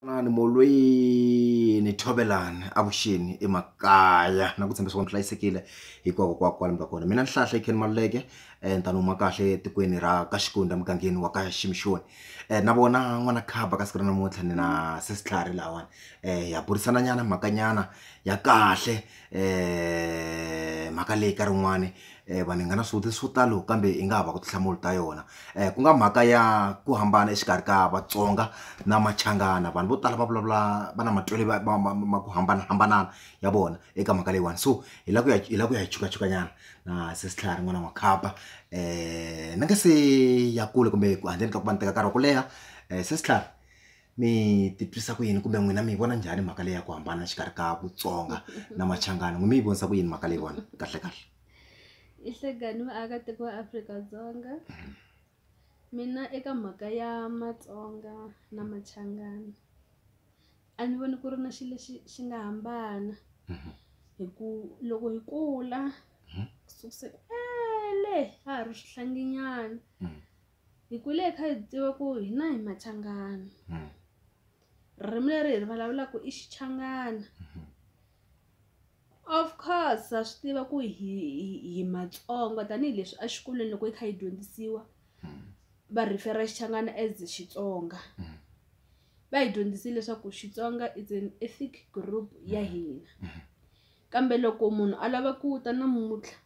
Xana molweni Thovelani avuxeni emakaya na ku tshembisa ku mi hlayisekile hinkwako kwala kwala mi nga kona mina Nhlahla Ken Maluleke ni ta ni huma kahle etikweni ra ka Xikundza emugangeni wa ka Ximixoni na vona n'wana khaba ka siku ra namuntlha ni na se switlhari lahawani ha burisana nyana mhaka nyana ya kahle. mhaka leyi nkarhi wun'wani vanhu hi nga na swivutiso swo talo kambe yi nga hava ku tinhlamulo ta yona ku nga mhaka ya ku hambana exikarhi ka Vatsonga na Machangana vanhu vo tala va vulavula va na matitwelo ya ma ma ma ku hambanahambana ya vona eka mhaka leyiwani so hi la ku ya hi la ku ya hi chukachuka nyana na sesi Tlhari n'wana wa makhamba ni nga se ya kule kumbe ku handleni ka ku va ni teka nkarhi wa ku leha sesi Tlhari. mi titwisa ku yini kumbe n'wina mi yi vona njhani mhaka leyi ya ku hambana xikarhi ka vutsonga na machangani n'wi mi yi vonisa ku yini mhaka leyi vona kahle kahle i hlekani vaakatiko va afrika-dzonga mina eka mhaka ya matsonga na machangani a ni voni ku ri na xilo lexi xi nga hambana mhm. hi ku loko hi kula mhm. ku sukuse kwele ha ha ri swihlanginyana mhm. hi kule hi kha hi tiva ku hina hi machangana hmm. ririmi leri hi ri vulavulaka i xichangana hmm. of course ha swi tiva ku hi hi matsongo tanihileswi a xikolweni loko yi kha yi dyondzisiwa hmm. va rhifera xichangana as xitsonga va hi dyondzisile leswaku xitsonga is an ethic group ya hina kambe loko munhu a lava ku ta namuntlha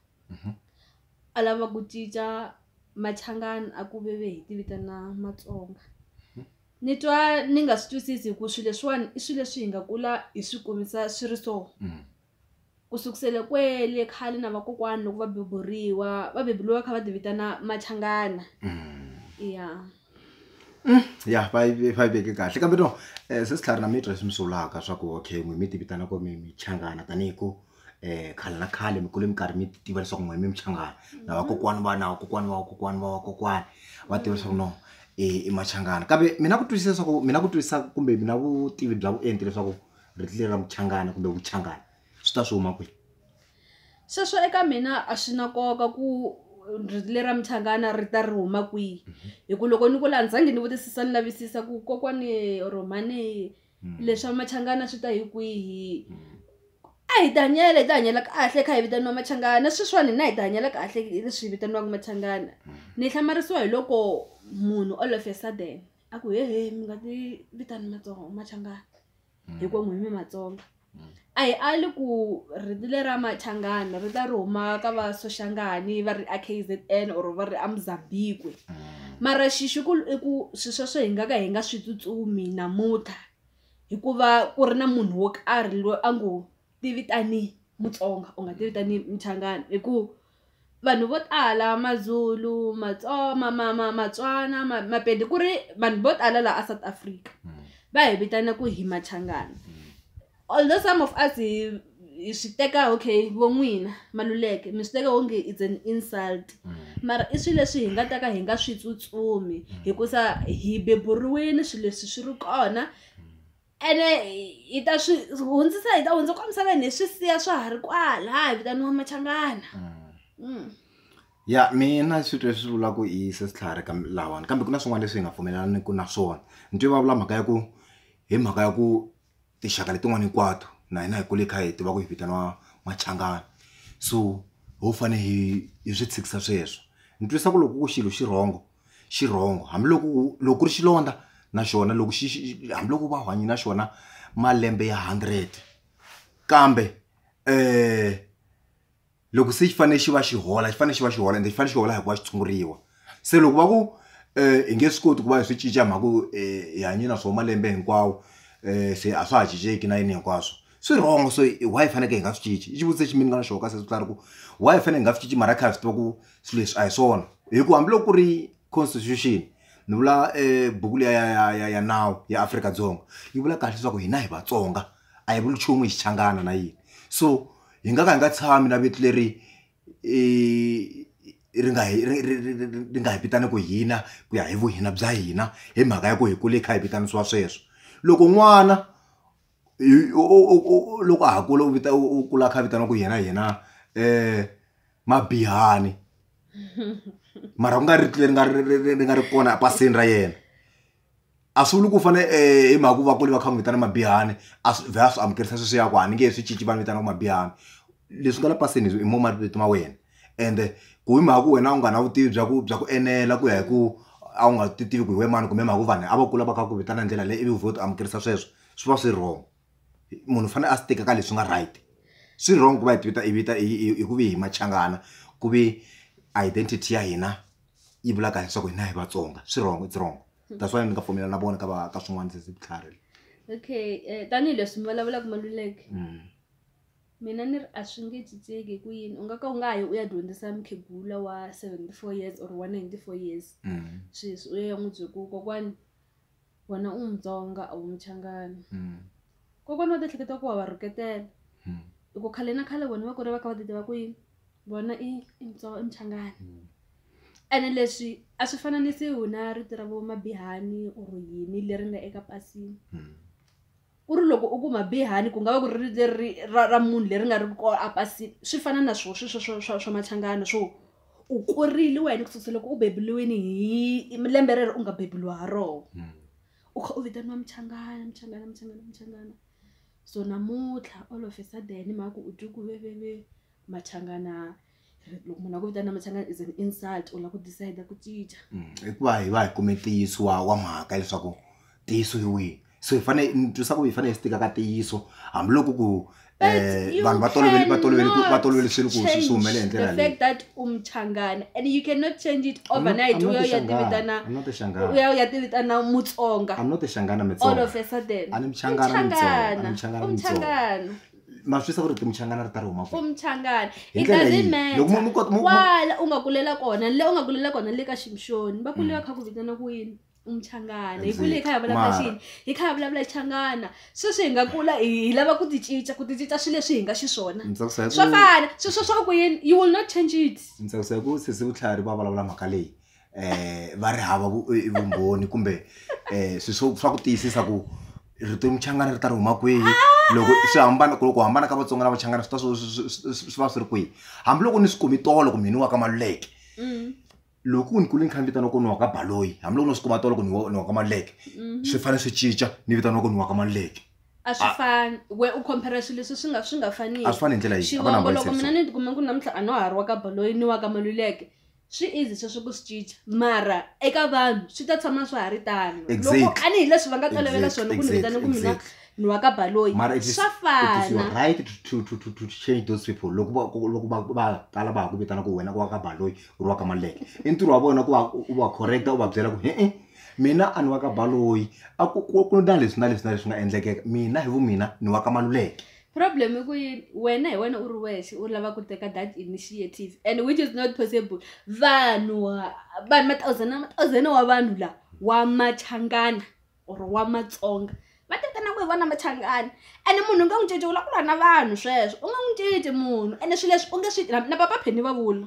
a lava ku cinca machangani a ku veve hi ti vitana matsonga ni twa ni nga swi twisisi hi ku swilo leswiwani i swilo leswi hi nga kula hi swi kumisa swi ri so ku sukusela kwele khale na vakokwana loko va beburiwa va beburiwa va kha va ti vitana machangana ya. ya va yi va yi veke kahle kambe no se Skhari na mitwa leswi mi swi vulaka swa ku okay n'wina mi ti vitana ku mi minchangana tanihi ku khale na khale mi kule mi karhi mi tiva leswaku n'wina mi minchangana na vakokwana va na vakokwana va vakokwana va vakokwana va tiva leswaku no i machangani kambe mi na ku twisisa swa ku mi na ku twisisa kumbe mi na vutivi bya vuenti leswaku rito leri ra muchangana kumbe vuchangana swi ta swi huma kwihi. Sweswo eka mina a swi na nkoka ku rito lera muchangana ri ta ri huma kwihi hi ku loko ni kula a ni zangi ni vutisisa ni lavisisa ku kokwani or mhani leswa machangana swi ta hi kwihi a hi ti hanyela hi ti hanyela kahle hi kha hi vitaniwa machangana sweswiwani hina hi ti hanyela kahle hi leswi hi vitaniwaka machangana ni hlamarisiwa hi loko munhu all of a sudden a ku hehe mi nga ti vitani matsonga machangana. Mm. hikuva n'wini mi matsonga Mm. a hi ali ku riti leri ra machangana ri ta ri huma ka va soshangani va ri a k z n or va ri a mozambikwe Mm. mara xixi ku i ku swi sweswo hi nga ka hi nga swi tsutsumi namuntlha hikuva ku ri na munhu wo karhi loyi a ngo ti vitani Mutsonga u nga ti vitani Muchangana hi ku vanhu vo tala Mazulu, ma ma ma Matswana ma Mapedi ku ri vanhu vo tala laha a South Africa va hi vitana ku hi Machangana although some of us hi hi swi teka okay vo n'wina Maluleke mi swi teka onge is an insult mara i swilo leswi hi nga ta ka hi nga swi tsutsumi hikusa hi beburiwile swilo leswi swi ri kona. ene hi ta swi hundzisa hi ta hundza kwa misaveni hi swi siya swa ha ri kwala hi vitaniwa machangana mm. ya mina swi twe swi vula ku i sesitlhari ka lawani kambe ku na swin'wana leswi hi nga pfumelelaniku na swona ni twe va vula mhaka ya ku hi mhaka ya ku tinxaka letin'wana hinkwato na hina hi kule kha hi tiva ku hi vitaniwa machangana so ho fane hi hi swi tshikisa sweswo ni twisa ku loko ku xilo xi rhongo xirhongo hambiloko u loko ku ri xilondza na xona loko xi xi hambiloko u va u hanye na xona malembe ya hundred kambe loko se xi fanele xi va xi hola xi fanele xi va xi hola ende xi fanele xi hola hi ku va xi tshunguriwa se loko va ku hi nge swi koti ku va hi swi cinca hi mhaka ku hi hanye na swona malembe hinkwawo se a swa ha cinceki na yini hinkwaswo swi wrong so why hi fanekele hi nga swi cinci i xivutiso lexi mina ni nga na xona ka sweswo swi tlhela ri ku why hi fanele hi nga swi cinci mara hi kha hi swi tiva ku. swilo leswi a hi swona hi ku hambiloko ku ri constitution ni vula buku liya ya ya ya ya nawu ya Afrika-Dzonga yi vula kahle leswaku hina hi Vatsonga a hi vuli nchumu hi xichangana na yini so hi nga ka hi nga tshami na vito leri ri nga hi ri ri ri ri ri nga hi vitaniku hina ku ya hi vuhina bya hina hi mhaka ya ku hi kule hi kha hi vitanisiwa sweswo loko n'wana loko a ha kula u vita u kula a kha a vitana ku yena yena um mabihani mara ku nga ri leri nga ri ri ri ri nga ri kona epasini ra yena a swi vuli ku fane um hi mhaka ku va kule va kha va n'wi vitana mabihani a swi vhe a swi amukelisa sweswiya ku a ni nge he swi cinci va ni vitana ku mabihani leswi nga le pasini hi mo mavito ma wena ende ku hi mhaka ku wena u nga na vutivi bya ku bya ku enela ku ya hi ku a wu nga ti tivi ku hi wena mani kumbe hi mhaka ku vanhu a va kula va kha va ku vitana hi ndlela leyi ivi u vhe u ti amukelisa sweswo. swi va swi wrong munhu u fanele a swi teka ka leswi nga right swi wrong ku va hi vita hi vita hi ku vi hi machangana ku vi identity ya hina yi vula kahle leswaku hina hi vatsonga swi wrong it's wrong hmm. that's why ni nga pfumelana na vona ka va ka swin'wana se vutlhari okay eh, tanihileswi mi vulavulaka maluleke hmm. mina ni ri a swi nge cinceki hi ku yini u nga ka u nga yi u ya dyondzisa mukhegula wa seventy four years or one ninety four years hmm. sweswi u ya ya n'wi bye ku kokwani wena u mutsonga a wu muchangani mm. kokwana wa tiehleketa ku wa va rhuketela mm. hi ku khale na khale vona va kuri va kha va ti tiva ku yini vona i i mutsonga i muchangani mm. ene leswi a swi fananisiwi na rito ra vo mabihani or yini leri nga eka pasini mm. ku ri loko u ku mabihani ku nga va ku ri leri ra ra munhu leri nga ri ko a pasini swi fana na swo sweswo swa swa swa machangana swo u kurile wena ku susa loko u bebuliwini hi lembe rero u nga bebuliwa ha roho Mm. u kha u vitaniwa muchangana muchangana muchangana muchangana so namuntlha all of a sudden hi mhaka ku u twi ku veveve machangana loko munhu a ku vitana machangani is an insult u la ku decide ku cinca mm, hikuva hi va hi kume ntiyiso wa wa mhaka leswaku ntiyiso hi wihi so hi fanele ni twisa ku hi fanele hi swi tika ka ntiyiso hambiloko ku um vanhu va tolovele va tolovele ku va tolovele swilo ku swi swi humele hi ndlela leyi fact that u muchangana and you cannot change it overnight u ya ti vitana u ya u ya ti vitana mutsonga i'm not a xangana mutsonga all of a sudden a ni muchangana mutsonga a ni muchangana mutsonga ma swi sa ku ri timuchangana ri ta ri huma ku muchangana it doesn't matterkwala u nga kulela kona le u nga kulela kona le ka ximxoni va kule va mm. kha ku vitana ku yini umchangana hi kule hi kha hi vulavula xini hi kha hi vulavula changana sweswi hi nga kula hi lava ku ti cinca ku ti cinca swilo leswi hi nga xiswona swo fana sweswo swa ku yini you will not change it ni tsakisa hi ku sesi vutlhari va vulavula mhaka leyi eh va ri hava vumbhoni kumbe eh swi swo swa ku tiyisisa ku rito muchangana ri ta ri huma kwihi loko swi hambana ku loko hambana ka vatsonga na vachangana swi ta swi swi va swi ri kwihi hambiloko ni swi kumi tolo kumbe ni wa ka maluleke mm. loko ku ni kule ni kha ni vitana ku ni wa ka baloyi hambiloko no swi kuma tolo ku ni wa ka maluleke mm-hmm. swi fanele swi cinca ni vitana ku ni wa ka maluleke a swi ah. fani we u compare swilo leswi swi nga swi nga faniki a swi fani hi ndlela yixiwongo loko mina ni tikuma ku namuntlha a no ha ri wa ka baloyi ni wa ka maluleke swi easy sweswo ku swi cinca mara eka vanhu swi ta tshama swa ha ri tano loko Exactly. ani hi leswi va nga tolovela Exactly, swona ku ni exactly, vitana ku mina exactly. ni wa ka baloyi mara it is, swa it is your fana right to, to, to, to, to change those people loko va- ku- loko va va tala va ha ku vitana ku wena ku wa ka baloyi u ri wa ka maleke i ntirho wa vona ku va u u va correcta u va byela ku he-e mina a ni wa ka baloyi a ku ku- ku na leswi na leswi na leswi nga endlekeka mina hi vu mina ni wa ka maluleke problem i ku yini wena hi wena u ri wexe u lava ku teka that initiative and which is not possible vanhu vanhu mathousand na mathousand wa vanhu la wa machangana or wa matsonga va tekana ku hi vona machangana ene munhu u nga n'wi cinci u lava ku lwa na vanhu sweswo u nga n'wi cinci munhu ene swilo leswi u nge swi na papa pheni va vula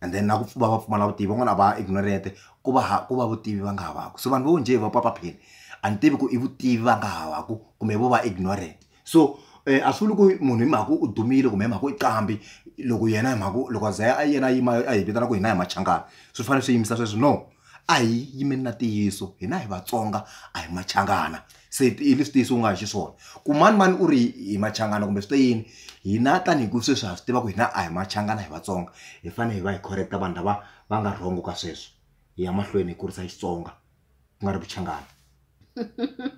and then na ku va va pfumala vutivi van'wana a va ignorant ku va ha ku va vutivi va nga havaku so vanhu vo njhe va papa pheni a ni tivi ku i vutivi va nga havaku kumbe vo va ignorant so um a swi vuli ku munhu hi mhaka u dumile kumbe hi mhaka i qambi loko yena hi mhaka loko a za a yena a yima a hi vitana ku hina hi machangani swi fanele swi yimisa sweswo no a hi yimeni na ntiyiso hina hi vatsonga a hi machangana se i leswi tiyisi u nga hi xiswona ku mani mani u ri hi machangana kumbe swi te yini hina tanihi ku sweswi ha swi tiva ku hina a hi machangana hi vatsonga hi fanele hi va hi correcta vanhu lava va nga wrong ka sweswo hi ya mahlweni hi kurisa xitsonga ku nga ri vuchangana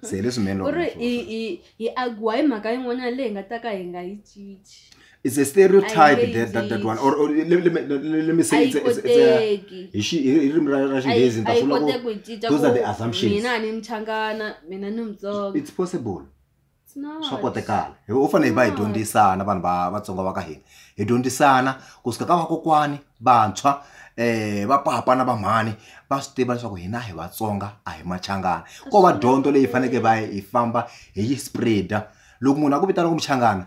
se hi leswi melo u ri hi hi hi agiwa hi mhaka yin'wanyana leyi hi nga ta ka hi nga yi cinci it's a stereotype I that, that, that one or, or let, let, let, let me say it's, it's, it's a hi ririmi ra ra xinghezi ni ta swi vula ku those are the assumptions mina ni mchangana mina ni mtsonga it's possible swa kotekala u fanele hi va hi dyondzisana vanhu va vatsonga va ka hina hi dyondzisana ku suka ka vakokwani vantshwa eh va papa na va mhani va swi tiva leswaku hina hi vatsonga a hi machangana ko va dyondzo leyi faneke va hi famba hi yi spreader loko munhu a ku vitana ku muchangana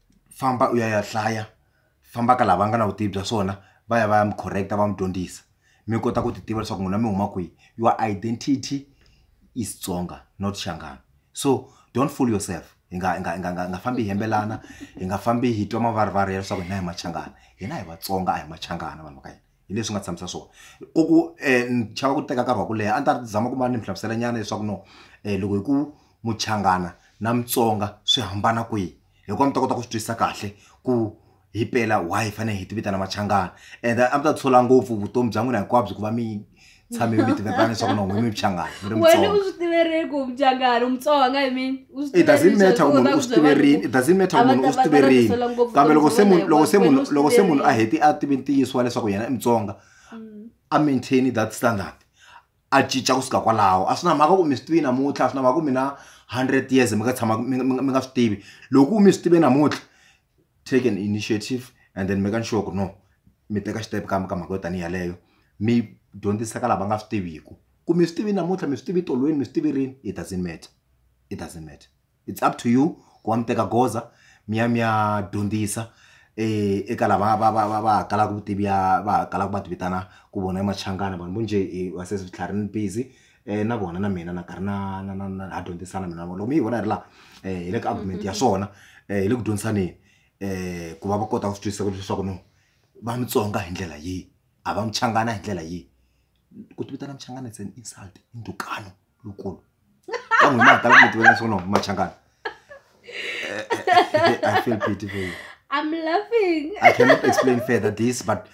famba u ya ya hlaya famba ka lava nga na vutivi bya swona va ya va ya mi correct-a va mi dyondzisa mi kota ku ti tiva leswaku n'wina mi huma kwihi your identity is Tsonga not Shangani so don't fool yourself hi nga hi nga hi nga hi nga hi nga fambi hi yimbelana hi nga fambi hi twa mavarivari ya leswaku hina hi Machangani hina hi Vatsonga a hi Machangani vanhu va ka hina. hi leswi nga tshamisa swona ku ku um ni chava ku teka nkarhi wa ku leha a ni ta zama ku ma ni mi hlamusela nyana leswaku no um loko hi ku muchangana na mutsonga swi hambana kwihi hi kona mi ta kota ku swi twisisa kahle ku hi pela why hi fanele hi ti vitana machangana and a mi ta tshola ngopfu vutomi bya n'wina hinkwabyo ku va mi tshame mi tivekana leswaku na n'wini mi phyangana mi ri wena u mutsonga swi tiverile ku mjangani umutsonga i mean u swi it doesn't tiverile matter ku sweswi munhu u u swi ta ku byela tiverini vanhu it doesn't matter ku a va munhu ta- u swi va ta tiverini rhangisela ngopfu kambe loko se vutomi munhu bya loko se wena, munhu wena u swi loko se munhu a tiverile. heti a tivi ntiyiso wa leswaku yena i mutsonga Mm. a maintain that standard a cinca kusuka kwalaho a swi na mhaka ku mi swi tivi namuntlha a swi na mhaka ku mina hundred years mi nga tshama mi nga- mi nga- mi nga swi tivi loko mi swi tive namuntlha take an initiative and then making sure ku no mi teka xitempe ka ka mhaka yo tanihi yeleyo mi dyondzisa ka lava nga swi tiviku ku mi swi tivi namuntlha mi swi tivi tolweni mi swi tivi rini it doesn't matter it doesn't matter it's up to you ku va mi teka goza mi ya mi ya dyondzisa eka lava va va va va kalaka vutivi ya va kalaka va ti vitana ku vona i machangani vanhu vo njhe va se switlharhi ni busy. na vona na mina na karhi na na na na ha dyondzisana mina na vona loko mi yi vona yi ri laha hi le ka argument ya swona hi le ku dyondzisaneni ku va va kota ku swi twisisa leswaku no va mutsonga hi ndlela yihi a va muchangana hi ndlela yihi ku ti vitana muchangana it's an insult i ndzhukano lowukulu ka n'wina hi tala ku mi tivela leswaku no machangana I feel pity for you I'm laughing I cannot explain further this but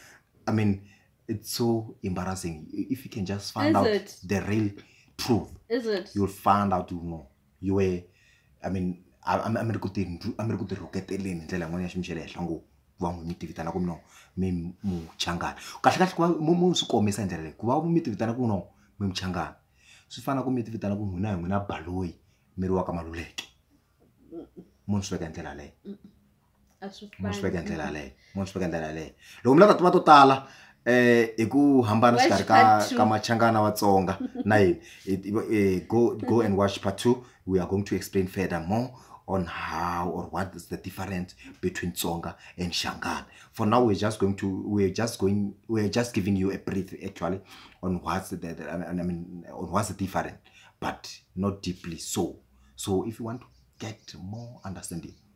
I mean it's so embarrassing if you can just find Is out it? the real truth Is it? you'll find out you know you were i mean a a- a mi ri ku ti ndlu- a mi ri ku ti rhuketeleni hi ndlela yin'wana ya xiyimo xa le henhla ngo ku va n'wi mi tivitana ku no mi muchangana kahlekahle ku va mu- mu swi kombisa hi ndlela leyi ku va mi tivitana ku no mi muchangana swi fana ku mi tivitana ku n'wina hi n'wina baloyi mi ri wa ka maluleke munhu swi veka hi ndlela leyo a swi munhu swi veka hi ndlela yaleyo munhu swi veka hi ndlela yaleyo loko mi lava tiva to tala um hi ku hambana Watch xikarhi ka part two. ka machangana watsonga na yini It- it- eh, go go and watch part two we are going to explain further more on how or what is the difference between tsonga and shangana for now we're just going to we're just going we're just giving you a brief actually on what's the, the I mean- I mean on what's the different but not deeply so so if you want to get more understanding